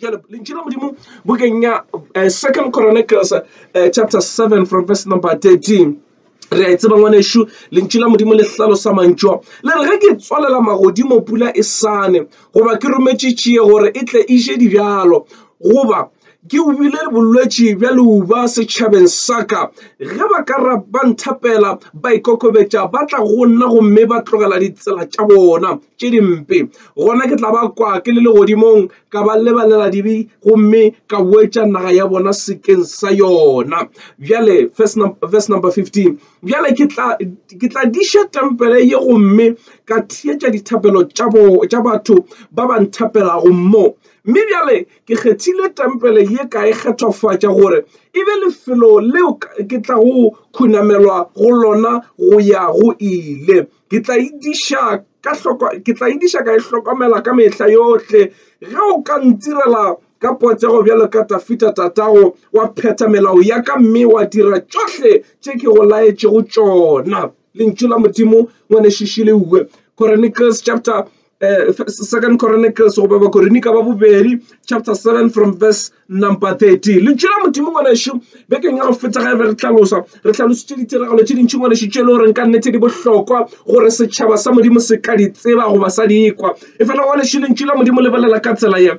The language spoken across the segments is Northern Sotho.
Jale, lentši la modimo bokeng ya eh, second chronicles eh, chapter 7 from verse number 13 re a e tseba ngwanešu lentši la modimo le hlalosa mantšwa le re ge ke tswalela magodimo pula e sane goba ke rometše tšie gore e tle e je dibjalo goba ke ubile bolwetši bja leuba setšhabeng sa ka ge ba ka ra ba nthapela ba ikokobetša ba tla go nna gomme ba tlogela ditsela tša bona tše dimpe gona ke tla ba kwa ke le legodimong ka ba lebalela dibe gomme ka boetša naga ya bona sekeng sa yona bjale verse number, verse number 15 bjale ke tla ke tla diša tempele ye gomme ka theetša dithapelo tša batho ba ba nthapelago moo mme bjale Ke kgethile tempele ye ka e kgethofatša gore e be lefelo leo ke tlago khunamelwa go lona go ya go ile. Ke tla e diša ka hloko, ke tla e diša ka e hlokomela ka mehla yohle. Ge o ka ntirela ka potsego bjalo ka Dafida tatago, wa phetha melao ya ka mme wa dira tšohle tše ke go laetšego tšona. Lentšu la Modimo, Ngwanešiši Leue, Chronicles chapter uh, second chronicles goba bakorine ka ba bobedi chapter 7 from verse number 13 lentšu la modimo ngwanešu bekeng ya go feta ga e be re tlhalosa re tlhalositše ditiragalo tše dintši ngwanešu tše e le goreng ka nnete di bohlokwa gore setšhaba sa modimo se ka di tseba goba sa di ekwa e fela ngwanešu lentšu la modimo lebelela ka tsela ye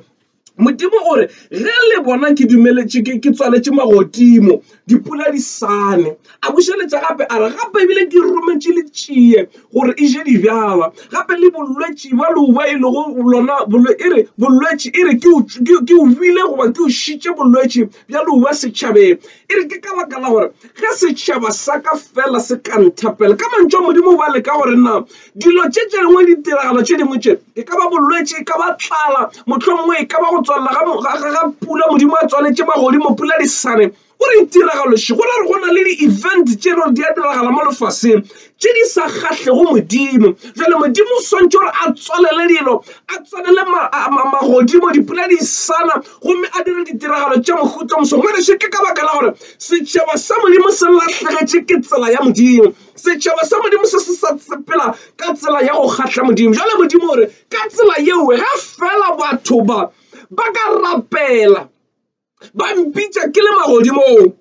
Modimo o re, Ge le bona ke dumeletše, ke, ke tswaletše magodimo, dipula di sane. A bušeletša gape a re, Gape ebile ke rometše letšie gore e je dibjala, gape le bolwetši bja leuba e lego lona bolwe, e re, bolwetši, e re, ke o, ke, ke o bile goba ke o šitše bolwetši bja leuba setšhabeng. E re, Ke ka baka la gore ge setšhaba sa ka feela se ka nthapela, ka mantšu a Modimo ba leka gore na Dilo tše tše dingwe le ditiragalo tše dingwe tše, e ka ba bolwetši, e ka ba tlala, mohlomongwe e ka ba go tswalela ga pula, Modimo a tswaletše magodimo, pula di sa ne. O re ditiragalo še, go ra gore go na le di-event tše e le gore di a diragala mo lefaseng tše di sa kgahlego Modimo. Jwale Modimo o swantšwe gore a tswalele dilo, a tswalele magodimo, dipula di sa na gomme a dire ditiragalo tša mohuta o moswa. Ngwanešu, ke ka baka la gore setšhaba sa Modimo se lahlegetše ke tsela ya Modimo. Setšhaba sa Modimo se se sa sepela ka tsela ya go kgahla Modimo. Jale Modimo gore ka tsela yeoe ge fela batho ba ba ka rapela ba mpitša ke le magodimong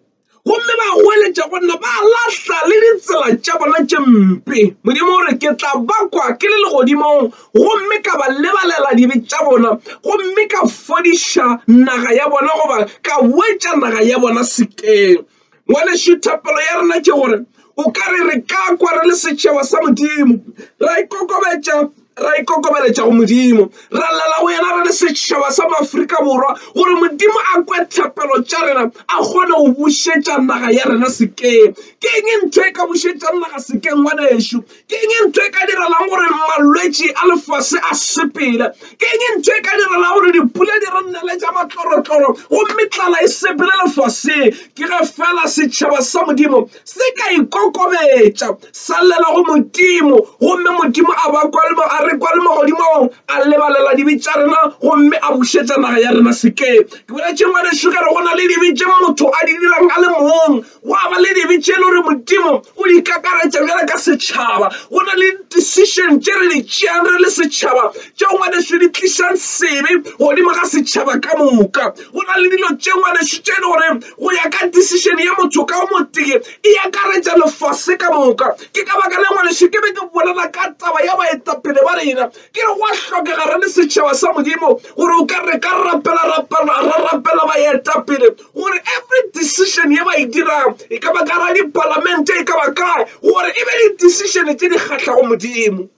gomme ba goeletša go nna ba lahla le ditsela tša bona tše mpe modimo gore ke tla bakwa ke le legodimong gomme ka ba lebalela dibe tša bona gomme ka fodiša naga ya bona goba ka boetša naga ya bona sekeng ngwanešu thapelo ya rena ke gore o ka re re ka kwa re le setšhaba sa modimo ra ikokobetša ra ikokobeletša go modimo ra lela go yena re le setšhaba sa maaforika borwa gore modimo a kwe thapelo tša rena a kgone go bušetša naga ya rena sekeng ke eng ntho e ka bušetšang naga sekeng ngwanešu Ke eng e ntho e ka direlago gore malwetši a lefase a sepele? Ke eng e ntho e ka direlago gore dipula di re nnele tša matlorotloro gomme tlala e sepele lefaseng? Ke ge fela setšhaba sa Modimo se ka ikokobetša sa llela go Modimo gomme Modimo a ba kwa le a re kwa le magodimong a lebalela dibe tša rena gomme a bušetša naga ya rena sekeng. Ke boletše ngwanešu ka re go na le dibe tše motho a di dirang a le mong Gwa ba le dibe tše le gore Modimo o di kakaretša bjale ka setšhaba. Go na le decision tše re di tšeang re le setšhaba tše ngwanešu di tlišang sebe godimo ga setšhaba ka moka. Go na le dilo tše ngwanešu tše e le gore go ya ka decision ya motho ka o motee e akaretša lefase ka moka. Ke ka baka la ngwanešu ke be ke bolela ka taba ya baetapele ba rena ke re gwa hlokega re le setšhaba sa Modimo gore o ka re ka rapela ra rapela baetapele gore every decision ye ba e dirang e ka ba ka ra dipalamente e ka ba kae gore e be di-decision tse di kgatlhago modimo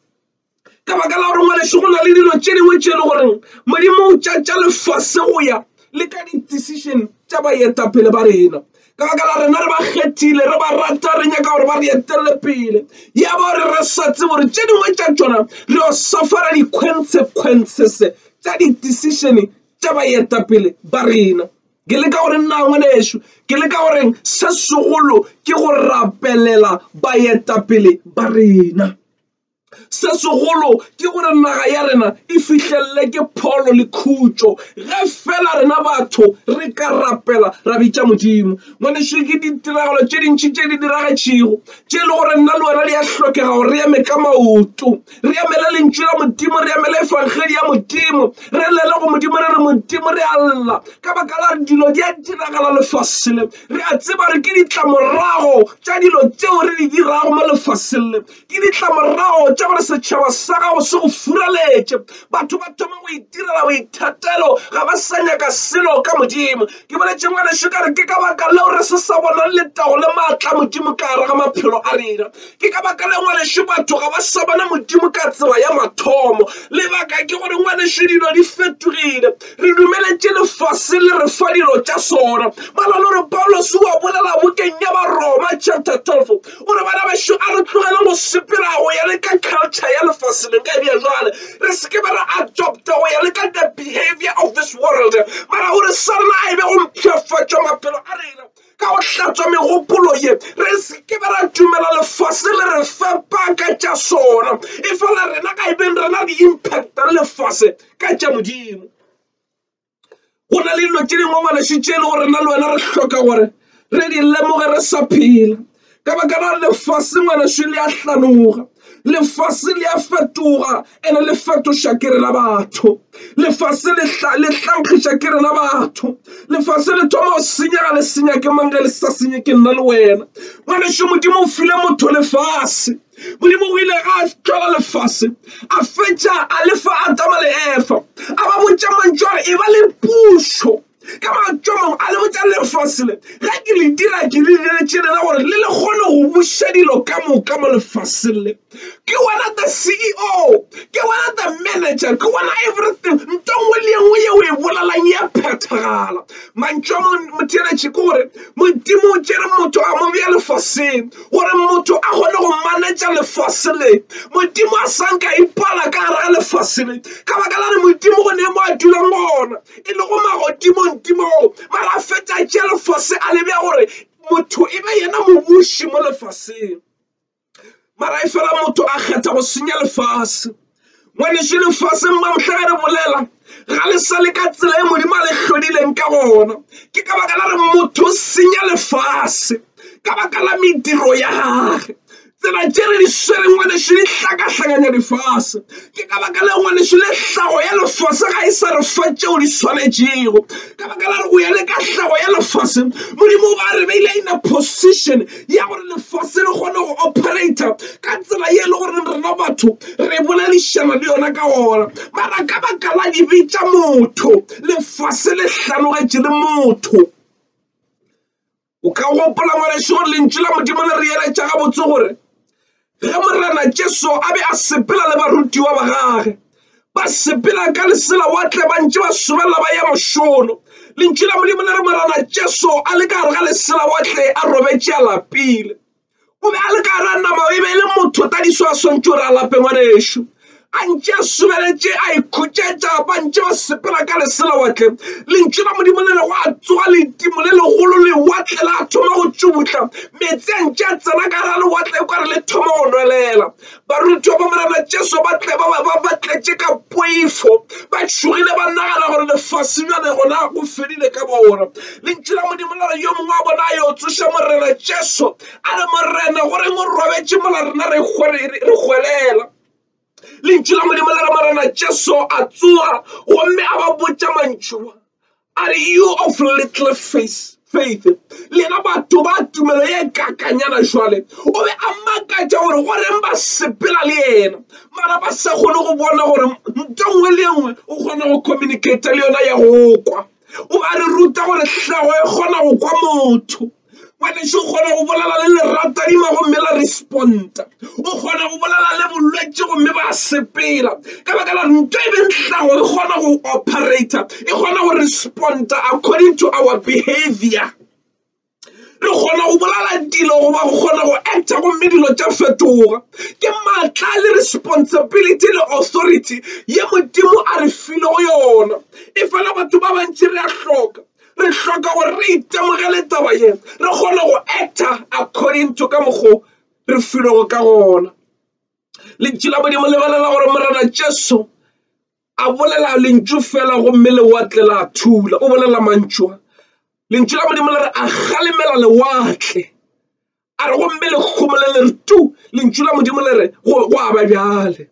ka baka la gore ngwaneso go na le dilo tše dingwe tše e le goreng modimo o tšatša lefase go ya le ka di-decision tša baetapele ba rena ka baka la rena re ba kgethile re ba rata re nyaka gore ba re etelele pele ya ba gore re sa tsebe gore tše dingwe tša tšona re yo safara di-consequences tša di-decision tša baetapele ba rena. Ke leka go re nnaa ngwanešu? Ke leka go reng? Se segolo ke go rapelela baetapele ba rena. Se segolo ke gore naga ya rena e fihlelele ke pholo le khutšo ge fela rena batho re ka rapela ra bitša Modimo. Ngwanešu, ke ditiragalo tše dintši tše di diragetšego tše e le gore nna le wena di a hlokega gore re eme ka maoto. re emele lentšu la modimo re emele efangedi ya modimo re lele go modimo re re modimo re a lla ka baka la re dilo di a diragala lefaseng le re a tseba re ke ditlamorago tša dilo tšeo re di dirago mo lefaseng le ke ditlamorago tša gore setšhaba sa gago se go furaletše batho ba thoma go itirela boithatelo ga ba sa nyaka selo ka modimo ke boletše ngwaneso ka re ke ka baka leo re se sa bonang letago le maatla modimo ka gare ga maphelo a rena Ke ka baka la ngwanešu batho ga ba sa bona Modimo ka tsela ya mathomo. Lebaka ke gore ngwanešu dilo di fetogile. Re dumeletše lefase le re fa dilo tša sona. Ba na le gore Paulos o a bolela bokeng ya Baroma chapter 12 o re bana bešo a re tlogeleng go sepela go ya le ka culture ya lefase le ka ebja jwale re se ke be ra adopta go ya le ka the behavior of this world mara o re sa rena a e be go mpshafatša maphelo a rena ka go hlatswa megopolo ye re se ke be ra dumela lefase le re fepa ka tša sona e fela rena ga e beng rena re impacta le lefase ka tša modimo go na le dilo tše dingwe ngwaneso tše e le gore rena le wena re hloka gore re di lemoge re sa phela ka baka la lefase ngwaneso le a hlanoga lefase le a fetoga ene le fetoša ke rena batho lefase le hlankgiša ke rena batho lefase le thoma go senyega le senya ke mang ge le sa senye ke nna le wena ngwaneso modimo o file motho lefase modimo o ile ga tlola lefase a fetša a lefa atama le efa a ba botša mantšu a re e ba le pušo Ka mantšu a mangwe, a le botša lefase le, ge ke le dira ke le diretše lena gore le le kgone go buša dilo ka moka mo lefaseng le. Ke wena the CEO, ke wena the manager, ke wena everything. Nto nngwe le engwe ye o e bolelang ya phethagala. Mantšu a mangwe motheeletše ke gore Modimo o tšere motho a mo bea lefaseng gore motho a kgone go manetša lefase le. Modimo a sa nka ipala ka gare ga lefase le ka baka la re Modimo go ne mo a dulang gona. e lego magodimong di moo mara a feta tše lefase a lebja gore motho e be yena mobuši mo lefaseng mara e fela motho a kgetha go senya lefase ngwaneso lefaseng ba mohla re bolela ga le sa le ka tsela e modimo a le hlodileng ka gona ke ka baka la re motho o senya lefase ka baka la mediro ya gage Tsela tše re di swereng ngwanešu di hlakahlakanya lefase. Ke ka baka leo ngwanešu le hlago ya lefase ga e sa re fa tšeo di swanetšego. Ka baka la re go ya le ka hlago ya lefase, Modimo o ba re beile in a position ya gore lefase le kgone go operator ka tsela ye e le goreng rena batho re boledišana le yona ka ona. Mara ka baka la dibe tša motho, lefase le hlanogetše le motho. o ka gopola ngwaneso gore lentšu la modimo le re eletša gabotse gore ge morena jesu a be a sepela le barutiwa ba gage ba sepela ka lesela wa tle ba ntše ba sobelela ba ya mošono lentšu la modimo le re morena jesu a le ka gare ga lesela wa tle a robetše a lapile o be a le ka gara nama e be e le motho ta diso a swantšo re a lape ngwanešu a ntše a sobeletše a ikhutšetša ba ntše ba sepela ka leselawatle lentšu la modimo le re go a tsoga letimo le legolo lewatle la thoma go tšubutla meetse a ntše a tsena ka gara lewatle e kware le thoma go nwelela Barutiwa ba Morena Jesu ba tle ba ba ba tletše ka poifo, ba tšhogile, ba nagana gore lefase bjale gona go fedile ka bona. Lentšu la Modimo la re, Yo mongwe wa bona a yo tsoša Morena Jesu, a re, Morena, go reng o robetše mola rena re hwelela? Lentšu la Modimo la re, Morena Jesu a tsoga gomme a ba botša mantšu a, Are you of little faith? faith lena batho ba tumelo ye kakanyana jwale o be a makatša gore go reng ba sepela le yena mara ba sa kgone go bona gore nto nngwe le nngwe o kgona go communicate le yona ya go kwa o ba re ruta gore hlago e kgona go kwa motho kwanešo o kgona go bolela le leratadima gomme la responta o kgona go bolela le bolwetse gomme ba sepela ka baka la nto e bentlago e kgona go operator e kgona go responta according to our behavior re kgona go bolala dilo goba go kgona go acta gomme dilo tša fetoga ke maatla le responsibility le authority ye modimo a re filego yona e fela batho ba bantši re a hloka re hloka gore re itemogele taba ye re kgone go acta according to ka mokgo re filego ka gona lentši la modimo lebelela gore morena jesu a bolela lentšu fela gomme lewatle la thula o bolela mantšwa lentšu la modimo le re a galemela lewatle a re gomme lekgomo le le re tu lentšu la modimo le re go aba bjale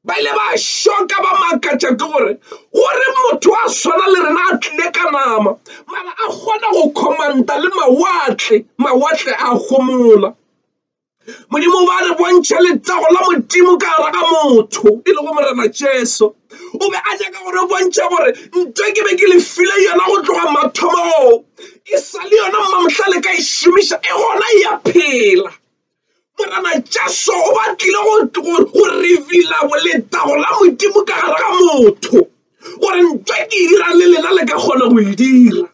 ba ile ba šoka ba makatša ke gore gore motho a swana le rena a tlile ka nama mara a kgona go commanda le mawatle mawatle a gomola modimo ba re bontšha letago la modimo ka gara ga motho e lego morena jesu o be a nyaka gore bontšha gore nto ke be ke le file yona go tloga mathomong e sa le yona mmamotlale ka e šomiša e gona e ya phela morana jesu o batlile go reveala boletago la modimo ka gare ga motho gore ntwa ke e dirang le lena le ka kgona go e dira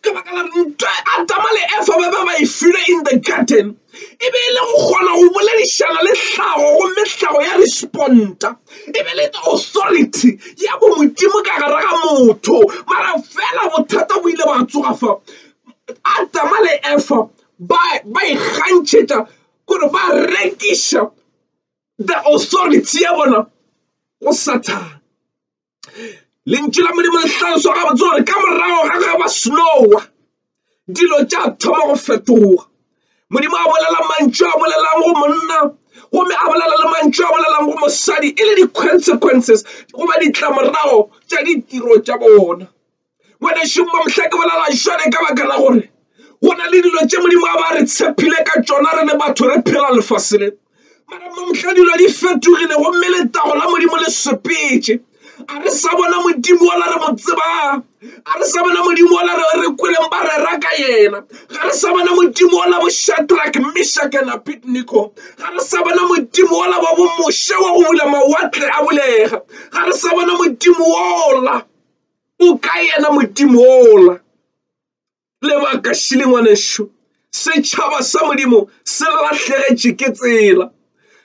ka baka la ntwa adama le efa ba ba ba e filwe in the garden e be e le go kgona go boledišana le tlhago gomme tlhago ya responta e be le authority ya bo modimo ka gare ga motho mara fela bothata bo ile ba tsoga fa adama le efa ba ba ikgantšhetša gore ba rekiša the authority ya bona go sathane lentšu la modimo le tlhalosa gabotse gore ka morago ga ge ba snowa dilo tša thoma go fetoga modimo a bolela mantšu a bolelang go monna gomme a bolela le mantšu a bolelang go mosadi e le di-consequences goba ditlamorago tša ditiro tša bona ngwanešong mamhla ke bolela šone ka baka la gore go na le dilo tše modimo a ba re tshepile ka tšona re le batho re phela lefase le mara mamhla dilo di fetogile gomme letago la modimo le sepetse a re sa bona modimo ola re mo tsebang a re sa bona modimo ola re re kweleng ba rera ka yena ga re sa bona modimo ola bo shatrak mishak and abednego ga re sa bona modimo ola wa bo moshe wa go bula mawatle a bulega ga re sa bona modimo ola o ka yena modimo ola lebaka šile ngwanešu setšhaba sa modimo se lahlegetše ke tsela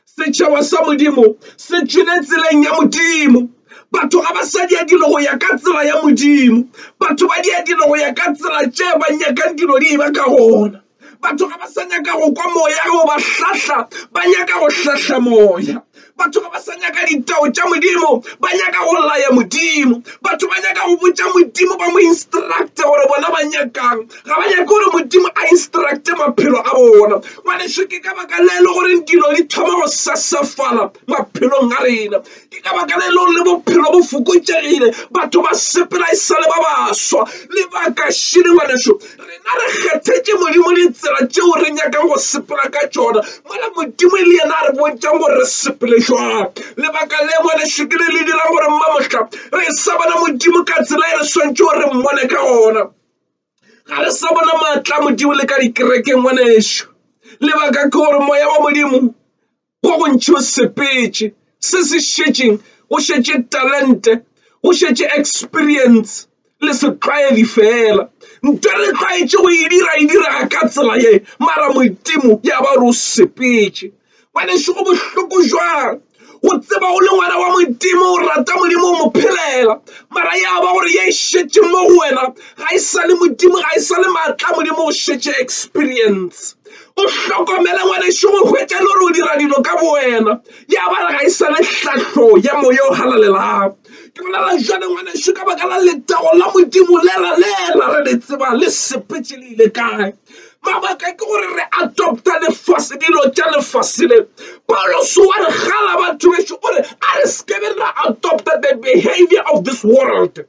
setšhaba sa modimo se tšwile tseleng ya modimo batho ga ba sa dia dilo go ya ka tsela ya modimo batho ba dia dilo go ya ka tsela tše ba nyakang dilo di e ba ka gona batho ga ba sa nyaka go kwa moya go ba hlahla ba nyaka go hlahla moya batho ga ba sa nyaka ditao tša modimo ba nyaka go laya modimo batho ba nyaka go botša modimo ba mo instructe gore bona ba nyakang ga ba nyake gore modimo a instructe maphelo a bona ngwaneso ke ka baka le le goreng dilo di thoma go sasafala maphelong a rena ke ka baka le leo le bophelo bo fokotšegile batho ba sepela e sale ba baswa lebaka šidi ngwaneso rena re kgethetše modimo ditsela tšeo re nyakang go sepela ka tšona mola modimo e le yena a re bontšang gore re sepele jwang lebaka le ngwaneso ke le le dirang gore mma mohla re sa bona modimo ka tsela e re swantšhe gore re mmone ka gona ga re sa bona maatla modimo le ka dikerekeng ngwaneso lebaka ke gore moya wa modimo go go ntšho sepetše se se šetšeng go šetše talente go šetše experience le setlwaedi fela nto le tlwaetše go e dira e direga ka tsela ye mara modimo ya ba gore o sepetše ngwaneso go bohloko jwang go tseba o le ngwana wa modimo o rata modimo o mo phelela mara ya ba gore ye e šetše mo go wena ga e sa le modimo ga e sa le maatla modimo o šetše experience o hlokomele ngwanešu go hwetša le gore o dira dilo ka bowena ya ba re ga e sane tlhahlo ya moya o halalelang ke bolela jale ngwanešu ka baka la letago la modimo lela lela re le tseba le sepetse le ile kae mabaka ke gore re adopta lefase dilo tša lefase le pauloso wa re gala batho bešo o re a re sekebe ra adopta the behavior of this world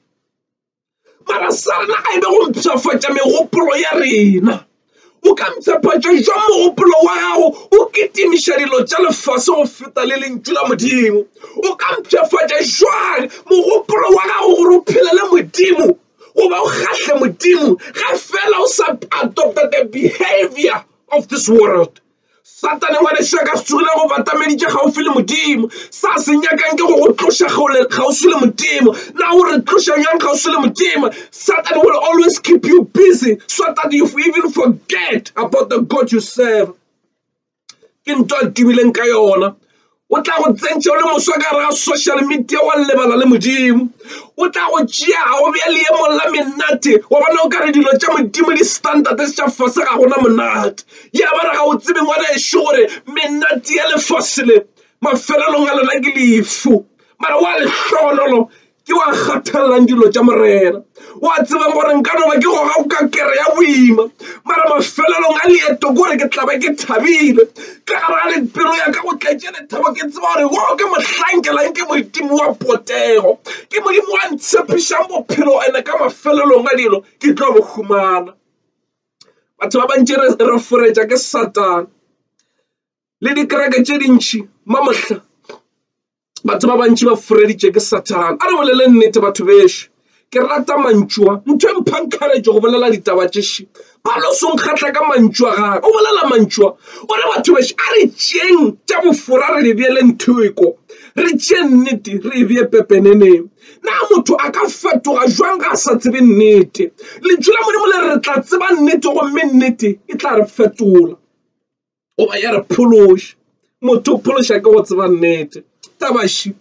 mara sa rena a e be go mpshafatša megopolo ya rena o ka mpshafatša jwang mogopolo wa gago o kitimiša dilo tša lefase go feta le lentšu la modimo o ka mpshafatša jwang mogopolo wa gago gore o phele le modimo goba o kgahle modimo ge fela o sa adopta the behavior of this world Satane wa lešaka se tsogile go batameditše kgauswi le Modimo. Sa se nyakang ke go go tloša kgauswi le Modimo. Na o re tloša bjang kgauswi le Modimo? Satan will always keep you busy so that you even forget about the God you serve. Ke ntwa a tubileng ka yona. o tla go tsentša o le moswa ka gare ga social media wa lebala le modimo o tla go tšea ga o bja leemong la menate wa bona o ka re dilo tša modimo di standard tša fase ga gona monate ya ba re ga o tsebe ngwana ešo gore menate ya lefase le mafelelong a lona ke lefu mara wa lehlohonolo ke wa kgathalelang dilo tša morena wa tsebang gore nka no ba ke goga o ka kere ya boima mara mafelelong a leeto kore ke tla ba ke thabile ka gara le pelo ya ka go tletše lethabo ke tseba gore wo ke mohlankelang ke modimo wa potego ke modimo wa ntshepišang bophelo ene ka mafelelong a dilo ke tlo bo humana batho ba bantši re foretša ke satane le dikereke tše dintšhi mamohla batho ba bantši ba fureditše ke sathane a re bolele nnete batho bešo ke rata mantšua ntho e mphang kgaretse go bolela ditaba tšeši paloso nkgatla ka mantšua gage o bolela mantšua o re batho bešo a re tšeng tša bofora re di beele ntheko re tšee nnete re e bee pepeneneng na motho a ka fetoga jwang ga a sa tsebe nnete lentšu la modimo le re tla tseba nnete gomme nnete e tla re fetola goba ya re phološa. Motho o phološa ke go tseba nnete. Tabaši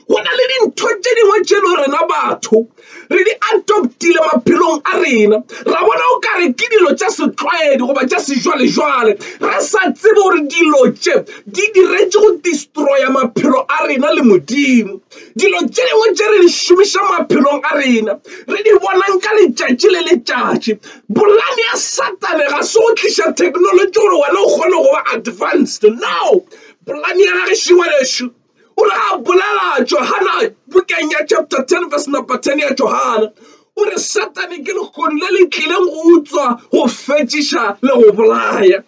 go na le dintho tše dingwe tše le rena batho re di adoptile maphelong a rena ra bona o kare ke dilo tša setlwaedi goba tša sejwalejwale re sa tsebe gore dilo tše di diretše go destroya maphelo a rena le modimo dilo tše dingwe tše re di šomiša maphelong a rena re di bonang ka letšatši le letšatši Polane ya Satane ga se go tliša theknolotši gore wena o kgone go ba advanced. No! Polane ya gage šingwalešo o re a bolela Johana bukeng ya chapter 10 verse number 10 ya Johana o re Satane ke lehono le le tlileng go utswa go fetšiša le go bolaya.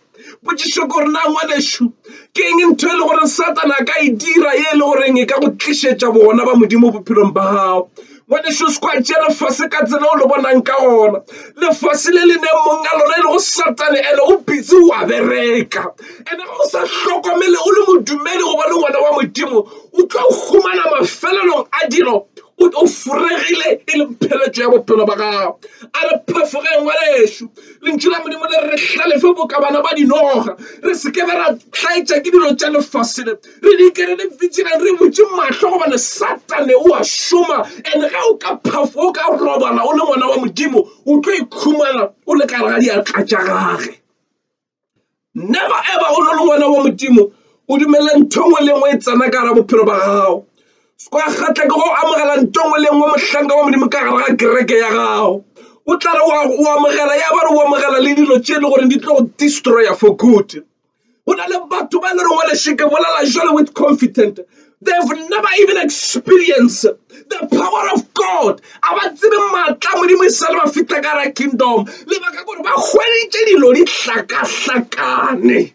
Potšišo ke gore, na ngwanešu, ke eng ntho e le gore Satana a ka e dira ye e le goreng e ka go tlišetša bogona ba Modimo bophelong ba gago? Ngwanešu, o se kwa tšea lefase ka tsela o le bonang ka gona. Lefase le le neng mong a lona e lego Satane, ene o busy o a bereka. Ene ga o sa hlokomele o le modumedi goba le ngwana wa Modimo, o tlo humana mafelelong a dilo o furegile e le pheletšo ya bophelo ba gago. A re phefoge ngwanešu! Lentšu la Modimo le re hlalefe boka bana ba dinoga, re se ke be ra hlaetša ke dilo tša lefase le. Re dike re le vigilant, re butše mahlo gobane Satane o a šoma, and ge o ka phafo, o ka robala o le ngwana wa Modimo, o tlo ikhumana o le ka gare ga diatla tša gage. never ever o no le ngwana wa modimo o dumele ntho ngwe le ngwe e tsena ka gara bophelo ba gago kwa kgatla ke go amogela ntho ngwe le ngwe mohlanka wa modimo ka gara ga kereke ya gago o tla re o amogela ya ba re o amogela le dilo tše e le gore di tlo go destroyer for good go na le batho ba e le reng wa lešeke bolela jalo with confident They've never even experienced the power of God. A ba tsebe maatla modimo e sa le ba fitla ka ra kingdom. Lebaka gore ba hweditše dilo di hlakahlakane.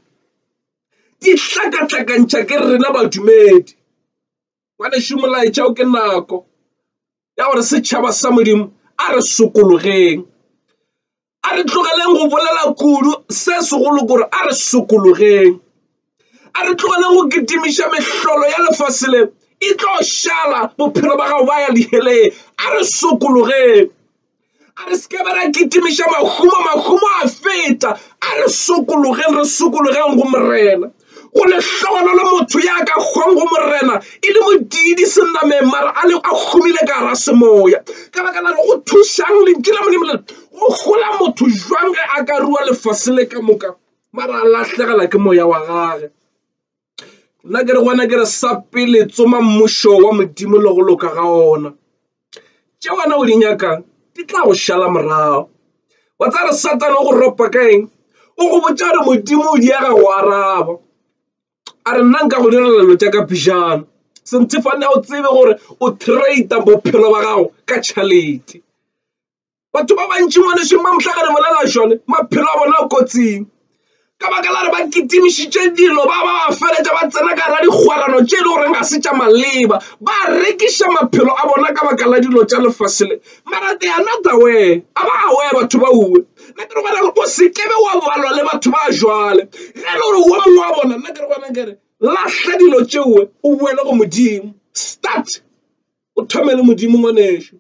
Di hlakahlakantšha ke rena badumedi. Ngwanešu molaetša o ke nako ya gore setšhaba sa modimo a re sokologeng. a re tlogeleng go bolela kudu se segolo kore a re sokologeng a re tlogeleng go kitimiša mehlolo ya lefase le e tlo šala bophelo ba gago ba ya diheleng a re sokologeng a re seke ba ra kitimiša mahumo mahumo a feta a re sokologeng re sokologeng go morena go lehlohonolo le motho ya ka kgong go morena e le modiidi senameng mara a le a humile ka gara semoya ka baka la go thušang lentši la modimo le go gola motho jwang ge a ka rua lefase le ka moka mara a lahlegela ke moya wa gage nna ke re gona ke re sa pele tsoma mmušo wa modimo le go loka ga ona tše wena o di nyakang di tla go šala morago wa tsa re satane o go ropa ka eng o go botša gore modimo o diega go araba a re nna nka go direlelo tša ka phijana senthefane o tsebe gore o trade bophelo ba gago ka tšhalete Batho ba bantši mo lešweng ba mohla ge re bolela šone maphelo a bona a kotsing ka baka la re ba kitimišitše dilo ba ba ba feletša ba tsena ka ra dikgwerano tše e le goreng ga se tša maleba ba rekiša maphelo a bona ka baka la dilo tša lefase le marate ya not aware a ba aware batho ba uwe nna ke re gona gore o se kebe wa balwa le batho ba jwale ge e le gore wo mongwe wa bona nna ke re gona kere lahla dilo tšeo o boele go Modimo start. o thome le modimo ngwanešu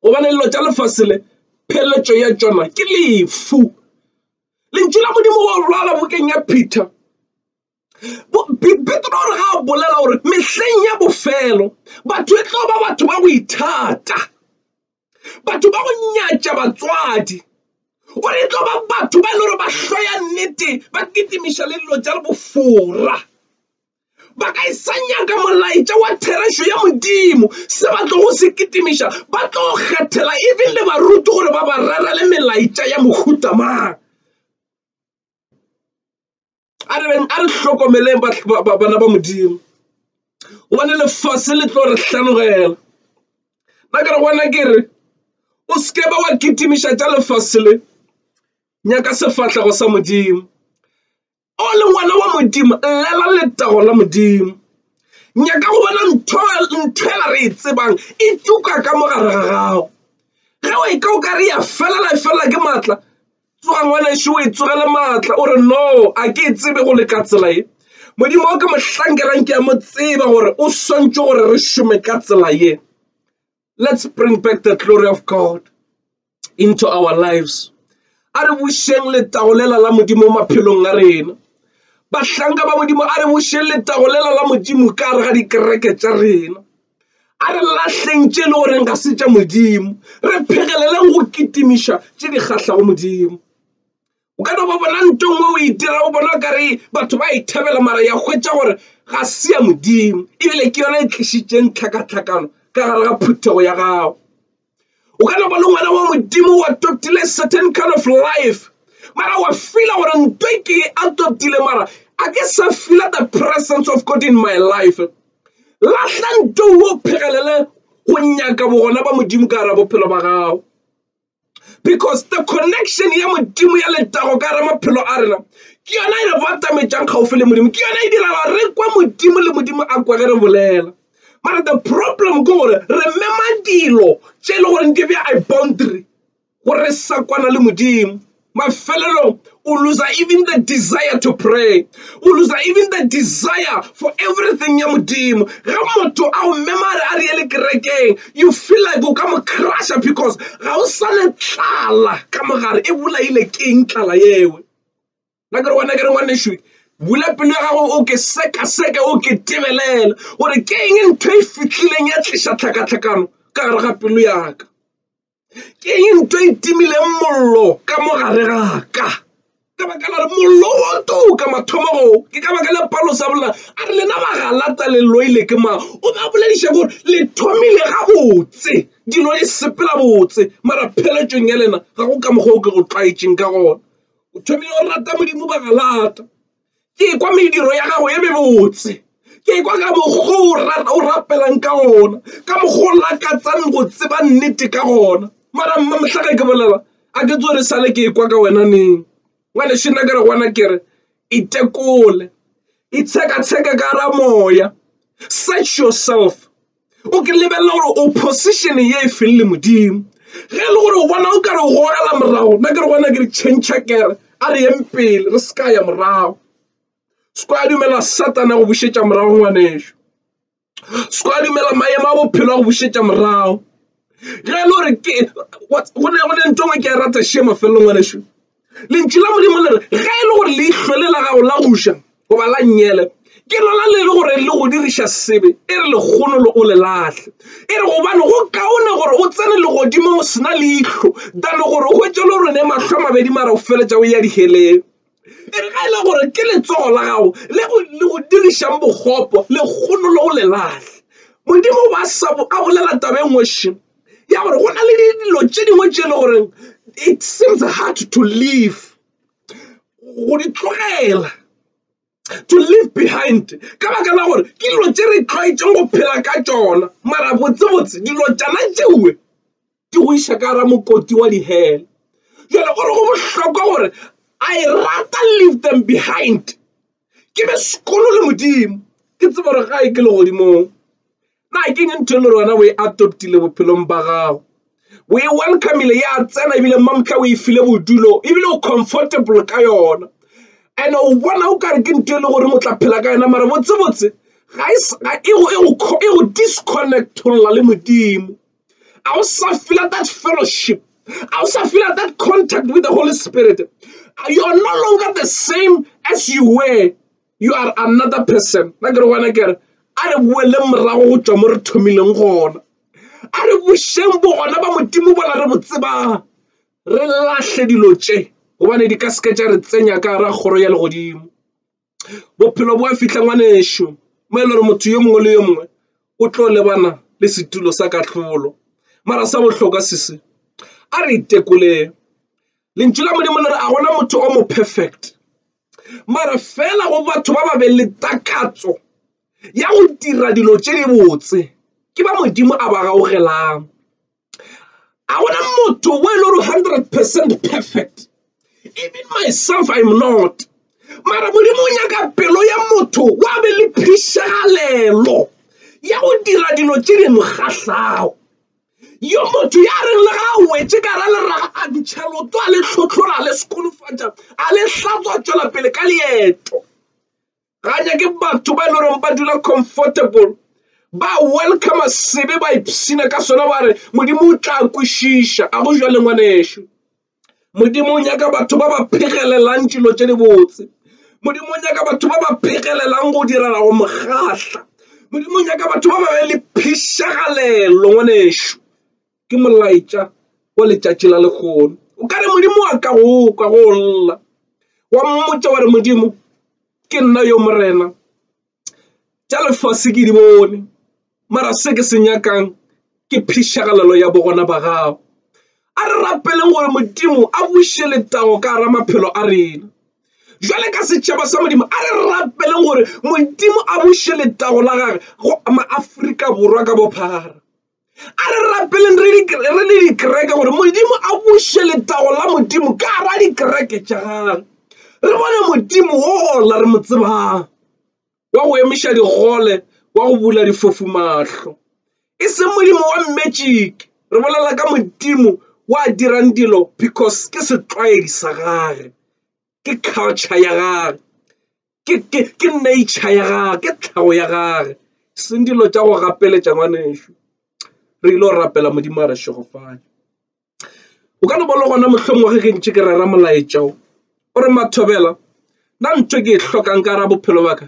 gobane dilo tša lefase le pheletšo ya tšona ke lefu lentšu la modimo go lwala bokeng ya peter petro re ga a bolela gore mehleng ya bofelo batho e tlo ba batho ba go ithata batho ba go nyatša batswadi gore e tlo ba batho ba e le gore ba hloya nnete ba kitimiša le dilo tša le bofora ba ka e sa nyaka molaetša wa therešo ya modimo se ba tlogo se kitimiša ba tlo kgethela even le baruti gore ba ba rerele melaetša ya mohutamang a re beng a re hlokomeleng bana ba modimo gobane lefase le tlo re hlanogela ba kere gona ke re o seke ba wa kitimiša tša lefase le nyaka sefahlego sa modimo o le ngwana wa modimo llela letago la modimo nyaka go bona ntho nthwela re e tsebang e tuka ka mo gare ga gago ge o e ka o ka re ya felela e felela ke maatla tsoga ngwanešu o itsogele maatla o re no a ke e tsebe go le ka tsela ye modimo o ke mohlankelang ke ya mo tseba gore o swantšwe gore re šome ka tsela ye let's bring back the glory of god into our lives a re bušeng letagolela la modimo maphelong a rena bahlanka ba modimo a re bušeng letagolela la modimo ka gare ga dikereke tša rena a re lahleng tše e le goreng ga se tša modimo re phegeleleng go kitimiša tše di kgahlago modimo o ka no ba bona nto nngwe o itirago e bona kare batho ba ithabela e mara ya hwetša gore ga se ya modimo ebile ke yona e tlišitšeng tlhakatlhakano ka gare ga phuthego ya gago o ka no ba le ngwana wa modimo wa totile certain kind of life mara wa fila gore nto e ke a totile mara a ke sa fila the presence of god in my life lahla nto o phegelele go nyaka bogona ba modimo ka gara bophelo ba gago because the connection ya modimo ya letago ka gara maphelo a rena ke yona e re batametšang kgaufo le modimo ke yona e dira gore re kwa modimo le modimo a kwa ge re bolela Mara the problem ke gore re mema dilo tše e le gore di bja i boundary gore re sa kwana le modimo mafelelong o loser even the desire to pray o loser even the desire for everything ya modimo ge motho a o mema re a re ye le kerekeng you feel like o ka mo crusha because ga o sa le tlala ka mogare e bolaile keng tlala yewe na ke re wena ke re ngwanešu bula pelo ya gago o ke sekaseke o ke tebelela gore ke eng ntho e fitlhileng ya tliša tlhakatlhakano ka gare ga pelo yaka ke eng ntho e timileng mollo ka mo gare gaka ka baka la re mollo o to ka mathomago ke ka baka la palo sa bola a re lena bagalata le loile ke mang o ba bolediša gore le thomile gabotse dilo di sepela botse mara pheletšong ya lena ga go ka mokgwa o ke go tlwaetšeng ka gona o thomile go rata modimo ba galata ke kwa mediro ya gago e mebotse ke kwa ka mokgo o rapelang ka gona ka mokgo o lakatsang go tseba nnete ka gona mara mma motlhaka ke bolela a ke tso re sale ke kwa ka wena neng ngwane shena ke re gona ke re itekole itshekatsheke ka ra moya search yourself O ke lebelela gore o position ye e feng le modimo ge e le gore o bona o ka re goela morago nna ke re gona ke re change kere a re yeng pele re se ka ya morago se kwa dumela satana go bušetša morago ngwaneso se kwa dumela maemo a bophelo a go bušetša morago ge e le gore ke go ne go ne nto ngwe ke a e rata šema felelong ngwaneso lentšu la modimo le re ge e le gore leihlole la gago la goša goba la nyele ke lona le le gore le go diriša sebe e re lekgono le o le lahle e re gobane go kaone gore o tsene legodimo o sena leihlo dane gore o hwetše le rone mahlo a mabedi mara o feletša o ya diheleng e re ga e le gore ke letsogo la gago le go dirišang bokgopo lekgono le o le lahle modimo ba sa a bolela tabeng wešeng ya gore go na le dilo tše dingwe tše e le gore it seems hard to leave go di tlogela to leave behind ka baka la gore ke dilo tše re tlwaetšeng go phela ka tšona mara botsebotse dilo tšana tšewe di go iša ka gara mokoti wa dihele jale gore go bohlokwa gore I rata leave them behind ke be sekolo le modimo ke tsebe gore ga e ke legodimong. na ke eng ntho e le gore wena o e adoptile bophelong ba gago o e welcomele ya tsena ebile mmamotla o e file bodulo ebile o comfortable ka yona and o bona o kare ke ntho e le gore o tla phela ka yona mara botsebotse ga e go disconnectolla le modimo a o sa feel that fellowship a o sa feel that contact with the holy spirit you're no longer the same as you were you are another person na kere gona kere a re boele morago go tšwa mo re thomileng gona a re bošeng bo gona ba modimo bola re bo tsebang re lahle dilo tše gobane di ka seke tša re tsenya ka ra kgoro ya legodimo bophelo bo a fihla ngwanešu mo e le gore motho yo mongwe le yo mongwe o tlo lebana le setulo sa kahlolo mara sa bohlokwa sese a re itekoleng lentšu la modimo le re a gona motho o mo perfect mara fela go batho ba ba be le takatso ya go dira dilo tše di botse ke ba modimo a ba gaugelang a gona motho o e le gore hundred percent perfect even myself im not mara modimo o nyaka pelo ya motho wa be le phišagalelo ya go dira dilo tše di mo kgahlago Yo motho ya reng le ga a wetše ka ra leraga a dutšha loto a le hlotlhora a le sekolofatša a le hlatswa a tšwela pele ka leeto. Ga nyake batho ba e le goreng ba dula comfortable ba welcome sebe ba ipshina ka sona ba re modimo o tla kwešiša a go jwa le ngwanešu. Modimo o nyaka batho ba ba phegelelang dilo tse di botse modimo o nyaka batho ba ba phegelelang go direla go mokgatla modimo o nyaka batho ba ba be le phišagalelo ngwanešu ke molaetša wa letšatši la lekgono o ka re modimo wa ka go kwa go lla wa mmotsa wa re modimo ke nna yo morena tša lefase ke di bone mara se ke se nyakang ke phišagalelo ya bogona ba gago a re rapeleng gore modimo a buše letago ka gara maphelo a rena jale ka setšhaba sa modimo a re rapeleng gore modimo a buše letago la gage go maafrika borwa ka bophara a re rapeleng re le dikereke gore modimo a buše letago la modimo ka ra dikereke tša gage re bone modimo wola re mo tsebang wa go emiša digole wa go bula difofu mahlo e seng modimo wa mmetšike re bolela ka modimo wa dirang dilo because ke setlwaedi sa gage ke culture ya gage ke nature ya gage ke tlhago ya gage seng dilo tša go gapeletša ngwanešu re ile go rapela modimo a re šegofane o ka no ba le gona mohlomong wa ge ke ntše ke rera molaetša o o re mathobela nna ntho ke e hlokang ka ra bophelo baka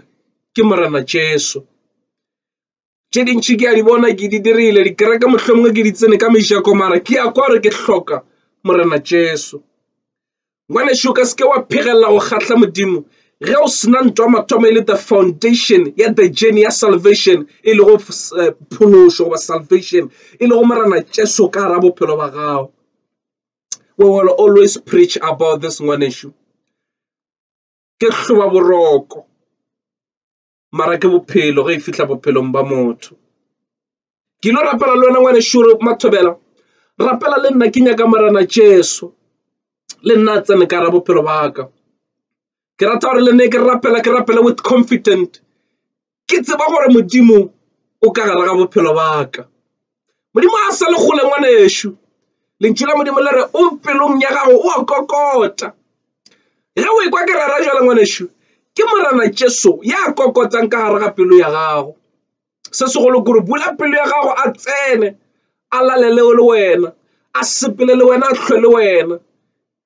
ke morena jesu tše dintši ke a di bona ke di dirile dikereke mohlomongwe ke di tsene ka mešako mara ke ya kwa gore ke hloka morena jesu ngwaneso ka seke wa phegelela go kgatlha modimo ge o sena ntwa mathomo e le the foundation ya the journey ya salvation e lego eh, phološo goba salvation e lego morena jesu ka ra bophelo ba gago we will always preach about this ngwaneso ke hloba boroko mara ke bophelo ge e fihla bophelong ba motho ke lo rapela le wena ngwane šoro mathobela rapela le nna ke nyaka morena jesu le nna a tsene ka ra bophelo ba ka ke rata gore le ne ke rapela ke rapela with confident ke tseba gore modimo o ka gare ga bophelo ba ka Modimo a sa le kgole ngwanešu lentšu la modimo le re o pelong ya gago o a kokota ge o ekwa ke rera jalo ngwanešu ke morena jesu ya kokotang ka gare ga pelo ya gago se segolo kore bula pelo ya gago a tsene a lalele le wena a sepele le wena a tlhwe le wena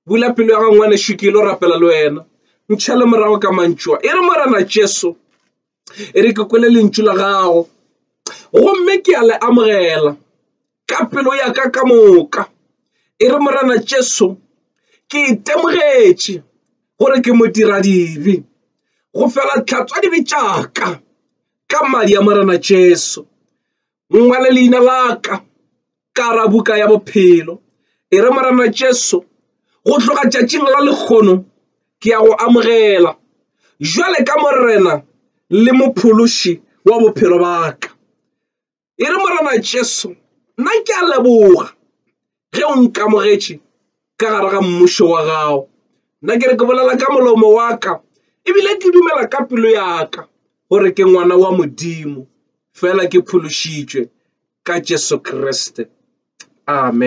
bula pelo ya gago ngwanešu ke ile rapela le wena ntšha le morago ka mantšoa e re morena jesu e re ke kwele lentšu la gago gomme ke a le amogela ka pelo ya ka ka moka e re morana Jesu ke itemogetše gore ke modira dibe go fela tlhatswa dibe tša ka ka madi a morana Jesu ngwale leina la ka ka ra buka ya bophelo e re morena jesu go tloga tšatšing la lekgono ke ya go amogela jwale ka morena le mophološi wa bophelo ba ka e re morena jesu nna ke a leboga ge o nkamogetše ka gare ga mmušo wa gago nna ke re ke bolela ka molomo wa ka ebile ke dumela ka pelo ya ka gore ke ngwana wa modimo fela ke phološitšwe ka jesu kriste amen